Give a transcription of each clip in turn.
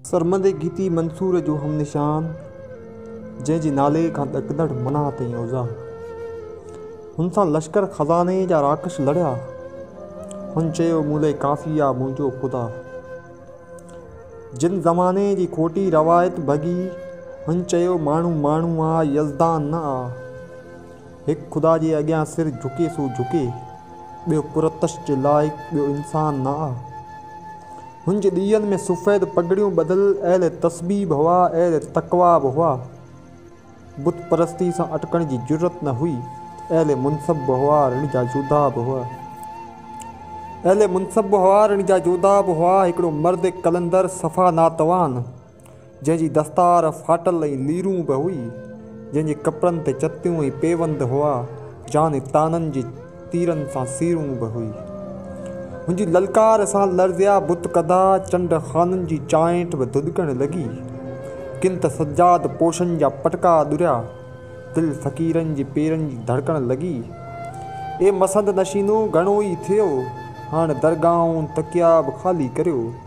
سرمدي گيتي منصور جو هم نشان، جنهن جي نالي کان ڏڪندڙ منع تائين اوزان. هن سان لشڪر خزاني جا راڪش لڙيا. هن چيو مون لئه ڪافي آ منهنجو خدا. جن زماني جي کوٽي روايت ڀڳي هن چيو ماڻهو ماڻهو آ يزدان نه آ. هڪ خدا جي اڳيان سر جهڪي سو جهڪي، ٻيو قرطش جي لائق ٻيو انسان نه آ. هن جي ڏيئن ۾ سفيد پڳڙيون ٻڌل اهل تسبيح به هئا، اهل تقويٰ به هئا. بت پرستيء سان اٽڪڻ جي جرئت نه هئي. اهل منصب به هئا، رڻ جا جوڌا به هئا. اهل منصب به هئا، رڻ جا جوڌا به هئا. هڪڙو مرد قلندر صفا ناتوان، جنهن جي دستار ڦاٽل ۽ ليرون به هئي، جنهن جي ڪپڙن تي چتيون ۽ پيوند هئا، جان ۽ طعنن جي تيرن سان سيرون به هئي. هن جي للڪار سان لرزيا بت ڪڌا، چنڊ خانن جي چانئٺ به ڌڌڪڻ لڳي. ڪن ته سجاد پوشن جا پٽڪا ڏريا. دل فقيرن جي پيرن جي ڌڙڪڻ لڳي. اي مسند نشينو گهڻو ئي ٿيو، هاڻ درگاهون تڪيا به خالي ڪريو.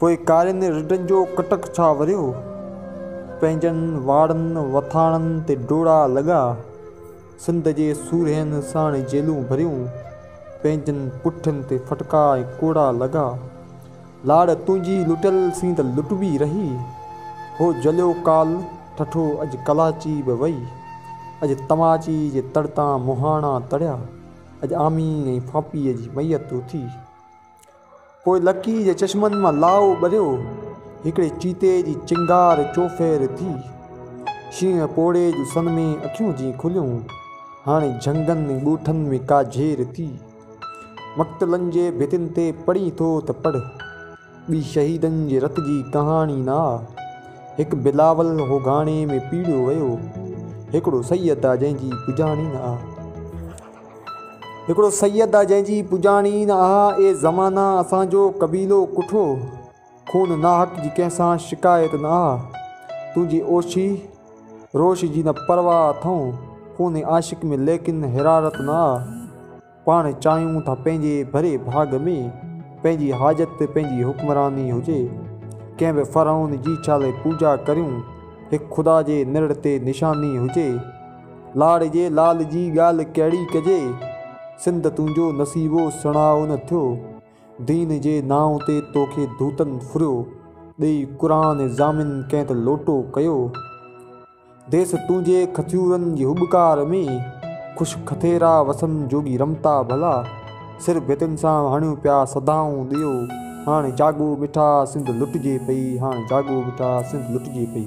پوء ڪارين رڍن جو ڪٽڪ ڇا وريو، پنهنجن واڙن وٿاڻن تي ڊوڙا لڳا، سنڌ جي سورهين ساڻ جيلون ڀريون، پنهنجن پٺين تي ڦٽڪا ۽ ڪوڙا لڳا، لاڙ تنهنجي لٽيل سين ته لٽبي رهي، هو جليو ڪال ٺٺو اڄ ڪلاچي به وئي، اڄ تماچي جي تڙ تان مهاڻا تڙيا، اڄ آمي ۽ ڦاپيء جي ميت اٿي. پوء لڪيء جي چشمن مان لاء ٻريو، هڪڙي چيتي جي چنگار چوڦير ٿي. شينهن پوڙهي جون سن ۾ اکيون جيئن کليون، هاڻي جهنگن ۽ ڳوٺن ۾ ڪا جهير ٿي. مقتلن جي ڀتين تي پڙهين ٿو ته پڙهه، ٻي شهيدن جي رت جي ڪهاڻي نه آ. هڪ بلاول هو گهاڻي ۾ پيڙهيو ويو، هڪڙو سيد آ جنهن جي پڄاڻي نه آ. هڪڙو سيد آ جنهن جي پڄاڻي نه آ اي زمانا اسان جو قبيلو ڪٺو خون ناحق جي ڪنهن سان شڪايت نه آ تنهنجي اوشي روش جي نه پرواهه اٿئون خون عاشق ۾ ليڪن حرارت نه آ پاڻ چاهيون ٿا پنهنجي ڀري ڀاڳ ۾ پنهنجي حاجت تي پنهنجي حڪمراني هجي ڪنهن به فرعون جي ڇا لئي پوڄا ڪريون هڪ خدا جي نرڙ تي نشاني هجي لاڙي جي لال جي ڳالهه ڪهڙي ڪجي، سنڌ تنهنجو نصيبو سڻائو نه ٿيو، دين جي نانء تي توکي ڌوتن ڦريو، ڏيئي قرآن ضامن ڪنهن ته لوٽو ڪيو، ديس تنهنجي کٿيورن جي هٻڪار ۾، خوش کٿيرا وسن جوڳي رمتا ڀلا، سر ڀتين سان هڻيو پيا صدائون ڏيئو، هاڻي جاڳو مٺا سنڌ لٽجي پئي، هاڻي جاڳو مٺا سنڌ لٽجي پئي.